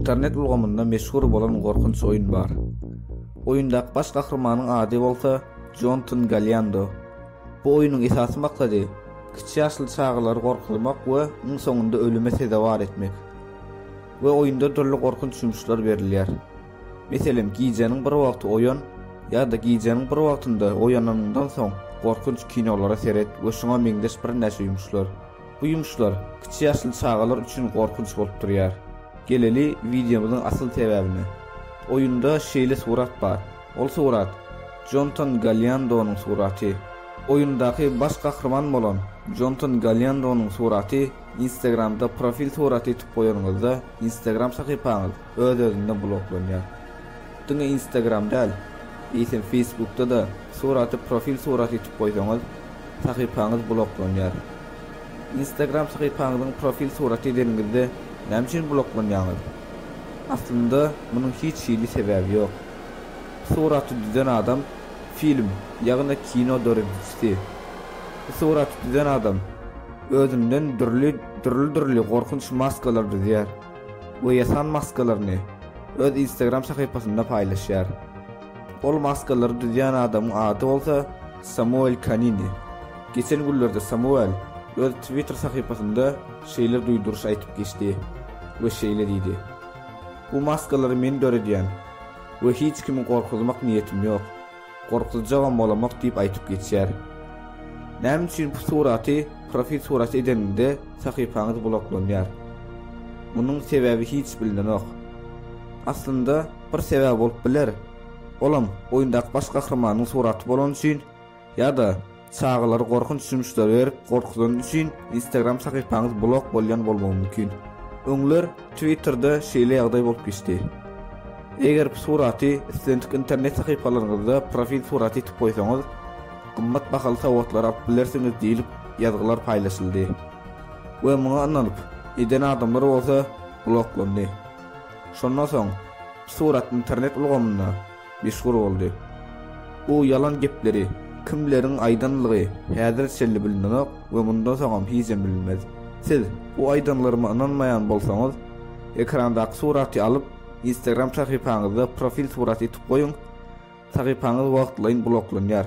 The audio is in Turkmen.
Internet ulgamynda meşhur bolan gorkunç oýun bar. Oýundaky baş gahrymanyň ady bolsa Jonton Galiando. Bu oýnuň esasy maksady kiçi ýaşly çagalary gorkuzmak we iň soňunda ölüme sezewar etmek. We oýunda dürli gorkunç ýumuşlar berilýär. Meselem, gijäniň bir wagty oýan ýa-da gijäniň bir wagtynda oýananyňdan soň gorkunç kinolara seret we şuňa meňzeş birnäçe ýumuşlar. Bu ýumuşlar kiçi ýaşly çagalar üçin gorkunç bolup durýar. Geleli wideomyzyň asyl sebäbine. Oýunda şeýle surat bar. Ol surat, Jontan Galýandonyň suraty. Oýundaky baş gahryman bolan Jontan Galýandonyň suraty Instagramda profil suraty tutup goýanyňyzda Instagram sahypaňyz Öz-özünden bloklanýar. Diňe Instagram däl, eýsem Facebookda-da suraty profil suraty etip goýsaňyz, sahypaňyz bloklanýar. Instagram sahypaňyzyň profil suraty edeniňizde näme üçin bloklanýaňyz? Aslynda munuň hiç hili sebäbi ýok. Suraty düzen adam film, ýagny kino döredijisi. Bu suraty düzen adam özünden dürli dürli dürli gorkunç maskalar düzýär. we ýasan maskalaryny öz Instagram sahypasynda paýlaşýar. Ol maskalary düzýän adamyň ady bolsa Samuel Kanini. Geçen günlerde Samuel öz Twitter sahypasynda şeýle duýduryş aýdyp geçdi we şeýle diýdi, Bu maskalary men döredýän we hiç kimi gorkuzmak niýetim ýok. Gorkuzjagam bolamok diýip aýtyp geçýär. Näme üçin bu suraty profil suraty edenimde sahypaňyz bloklanýar? Munuň sebäbi hiç bilinenok. Aslynda bir sebäbi bolup biler, olam oýundaky baş gahrymanyň suraty bolany üçin ýa-da Çagalar gorkunç jumşlary berip gorkuzany üçin Instagram sahypaňyz blok bolýan bolmagy mümkin. Öňler Twitterde şeýle ýagdaý bolup geçdi. Eger bu suraty islendik internet sahypalaryňyzda profil suraty etip goýsaňyz, gymmat bahaly sowgatlar alyp bilersiňiz diýlip ýazgylar paýlaşyldy we muňa ynanyp eden adamlar bolsa bloklandy. Şondan soň bu surat internet ulgamynda meşhur boldy. Bu ýalan gepleri kimleriň aýdanlygy häzir çenli bilinenok we mundan soňam hijem bilinmez. Siz bu aýdanlaryma ynanmaýan bolsaňyz, ekrandaky suraty alyp, Instagram sahypaňyzda profil surat etip goýuň, sahypaňyz wagtlaýyn bloklanýar.